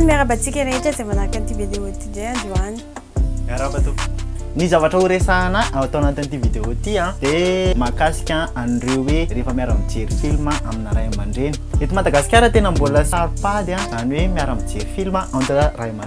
miarabantsika rehetra izay manaraka an'ity vidéo ity dray androany miaraba to ny zavatra horesahana atao anatin'ity vidéo ity a dia mahakasika an'ireo hoe rehefa miara-mijery filma amina ray aman-dreny eto madagasikara tena mbola saropady a izany hoe miara-mijery filma entre ray aman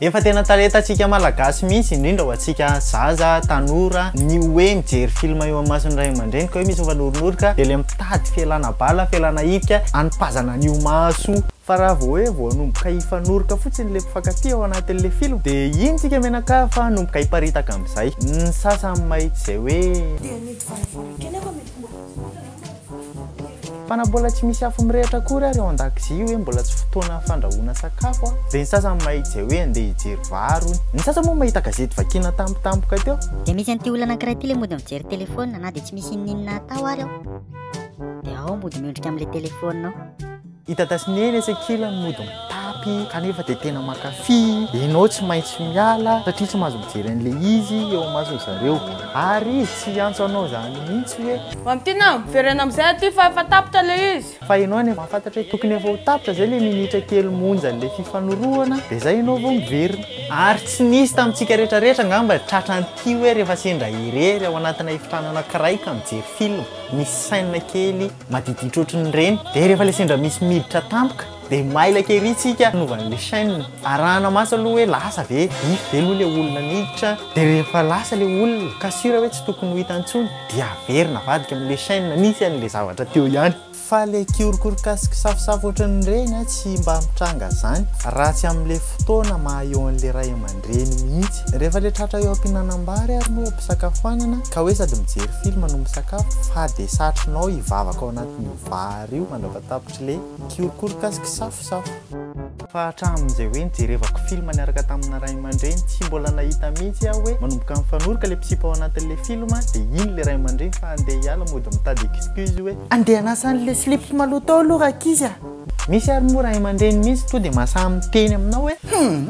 Efa tena talentantsika malagasy mihitsy indrindra ho antsika zaza, tanora, ny hoe mijery film eo amamason'ny ray aman-dreny ka hoe misy mifanoronoka dia ilay mitady fialana bala, fialana hidika hanipazana an'io maso. Fa raha vao hoe voanomboka hifanoroka fotsiny ilay mpifankatia ao anatin'ilay film dia iny tsika mianakavy fa hanomboka hiparitaka amin'izay. Ny sasany mahita izay hoe. Dia ny divaio voalohany kely aho fa mety ho mbola. Fa na mbola tsy misy afo mirehitra akory ary ao an-dakozia hoe mbola tsy fotoana fandrahoana sakafo a! Dia ny sasany mahitsy hoe andeha hijery vary hono. Ny sasany moa mahita gazety vakiana tampotampoka teo. Dia misy an'ity olona anankiray ity ilay mody mijery telefaonina na dia tsy misy inon'inona atao ary ao dia ao mody miondrika amin'ilay telefaonina ao. I dada sy neny etsy ankilany mody mitapy kanefa dia tena mankafy, ianao tsy maintsy miala satria tsy mahazo mijery an'ilay izy eo imasony zareo ary izy tsy hiantso anao izany mihitsy hoe. Mamy Tiana a! miverena amin'izay aty fa efa tapitra ilay izy. Fa ianao anie mahafantatra hoe tokony efa ho tapitra izay ilay minitra kely monja an'ilay fifanorohana dia izay ianao vao miverina. Ary tsy nisy tamintsika rehetra rehetra angamba tratra an'ity hoe rehefa sendra irery ao anatina efitrano anankiray ka mijery film, misy scène kely maditiditra ohatry ny reny dia rehefa ilay sendra misy miditra tampoka dia mailaka ery tsika hanaovana ilay chaîne arahana maso aloha hoe lasa ve if ve aloha ilay olona niditra dia rehefa lasa ilay olona ka sur hoe tsy tokony ho hita intsony dia averina avadika amin'ilay chaîne nisy an'ilay zavatra teo ihany fa ilay kiorokoroka sy kisafosafo ohatry ny reny tsy mba mitranga izany raha tsy amin'ilay fotoana maha eo an'ilay ray aman reny mihitsy. Rehefa ilay tratra eo am-pihinanam-bary ary moa eo am-pisakafoanana ka hoe sady mijery film no misakafo fa dia satrinao hivavaka ao anatin'io vary io mandrava tapitry le kiorokoroka sy kisafosafo. Fa hatramin'izay hoe nijerevako film niaraka tamina ray aman-dreny tsy mbola nahita mihitsy aho hoe manomboka mifanoroka le mpisipa ao anatin'le film dia iny le ray aman-dreny fa andeha hiala mody mitady excuse hoe andeha hanasa an'le slips maloto ao aloha rankizy a! Misy ary moa ray aman-dreny mihitsy tonga dia masaha miteny aminao hoe humm!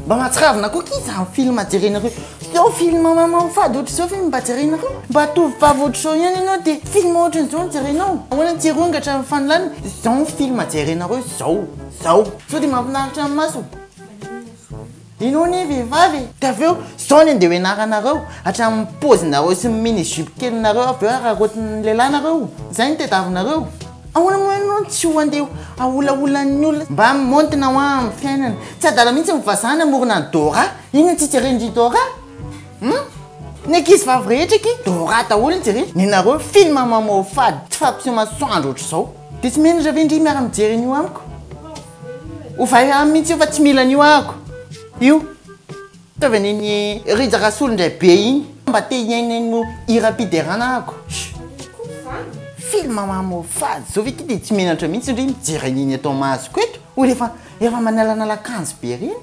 Mba mahatsiravina koa akia izany film jerenareo Zao film mamoafady ohatr'izao ve no mba jerenareo? Mba tovovavy ohatr'izao ihany ianao dia film ohatr'izao no jerenao? Ahoana ny tsy hirongatra amin'ny fanolanana? Zao ny film jerenareo zao, zao. Sao dia mahafinaritra ny maso? Ianao anie vehivavy e! Dia avy eo zao ny andeha ho ianaranareo hatramin'ny paozinareo sy ny mini jupe kelinareo avy eo araraotin'ny lehilahy nareo. Izay no tediavinareo. Ahoana moa ianao no tsy ho andeha haolaolan'ny olona mba hamontina hoa amin'ny fiainana? Tsy adala mihitsy ny vazaha namorona an'i Dora. Inona tsy jeren'i Dora? Hum? Ny ankizivavy rehetra akia Dora daholo no jereny. Nenareo film mamoafady tsy fampiseho masoandro ohatr'izao. Dia tsy menatra ve ndry miara mijery an'io amiko? Ovay aminy mihitsy io fa tsy mila an'io ahako io. Ataovy anie ny Rija Rasolo ndray be iny mba te hihaino eny no hiram-piderana ako. Film mamoafady zao ve ty de tsy menatra mihitsy ndry mijery an'iny eto amasoko eto olo efa efa manalanala akanjo be reny.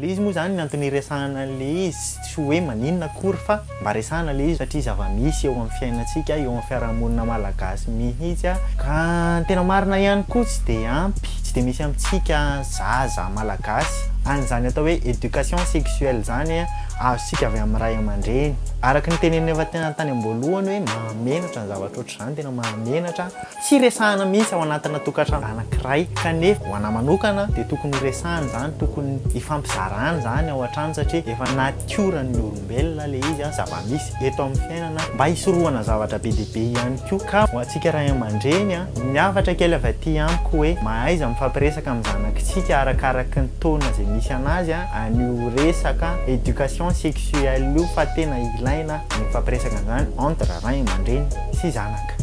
Le izy moa zany ny antony iresahana an'le izy tsy hoe maninona akory fa. Mba resahana ilay izy satria zava-misy eo amin'ny fiainantsika, eo amin'ny fiarahamonina malagasy mihitsy, ka ny tena marina ihany koa tsy dia ampy, tsy dia misy amintsika zaza malagasy an'izany atao hoe éducation sexuelle izany azontsika avy amin'ny ray aman-dreny. Araka ny teneninay efa tany am-boalohany hoe mahamenatra ny zavatra ohatr'izany, tena mahamenatra. Tsy resahana mihitsy ao anatina tokantrano anankiray kanefa ho anah manokana dia tokony ho resahana izany, tokony hifampizarana izany ao an-trano satria efa natioran'ny olombelona ilay izy an, zava-misy eto amin'ny fiainana mba hisorohana zavatra be dia be ihany koa. Ka ho antsika ray aman-dreny an, ny hafatra kely avy aty amiko hoe mahaiza mifampiresaka amin'ny zanakitsika arakaraky ny taona izay misy anazy an, an'io resaka éducation sexuelle io fa tena ilaina ny mifampiresaka an'izany entre ray aman-dreny sy zanaka.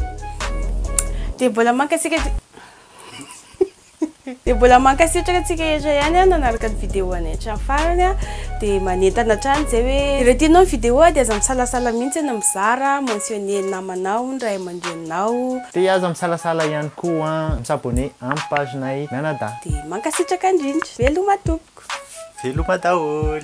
Dia mbola mankasitraka Dia mbola mankasitraka antsika rehetra ihany a nanaraka ny vidéo anay hatramin'ny farany a dia manentana hatrany izay hoe raha tianao ny vidéo dia aza misalasala mihitsy ny mizara mentionner ny namanao ny ray aman-dreninao Dia aza misalasala ihany koa mi s'abonner amin'ny page nay mianadahy. Dia mankasitraka indrindra. Veloma tompoko. Veloma daholo.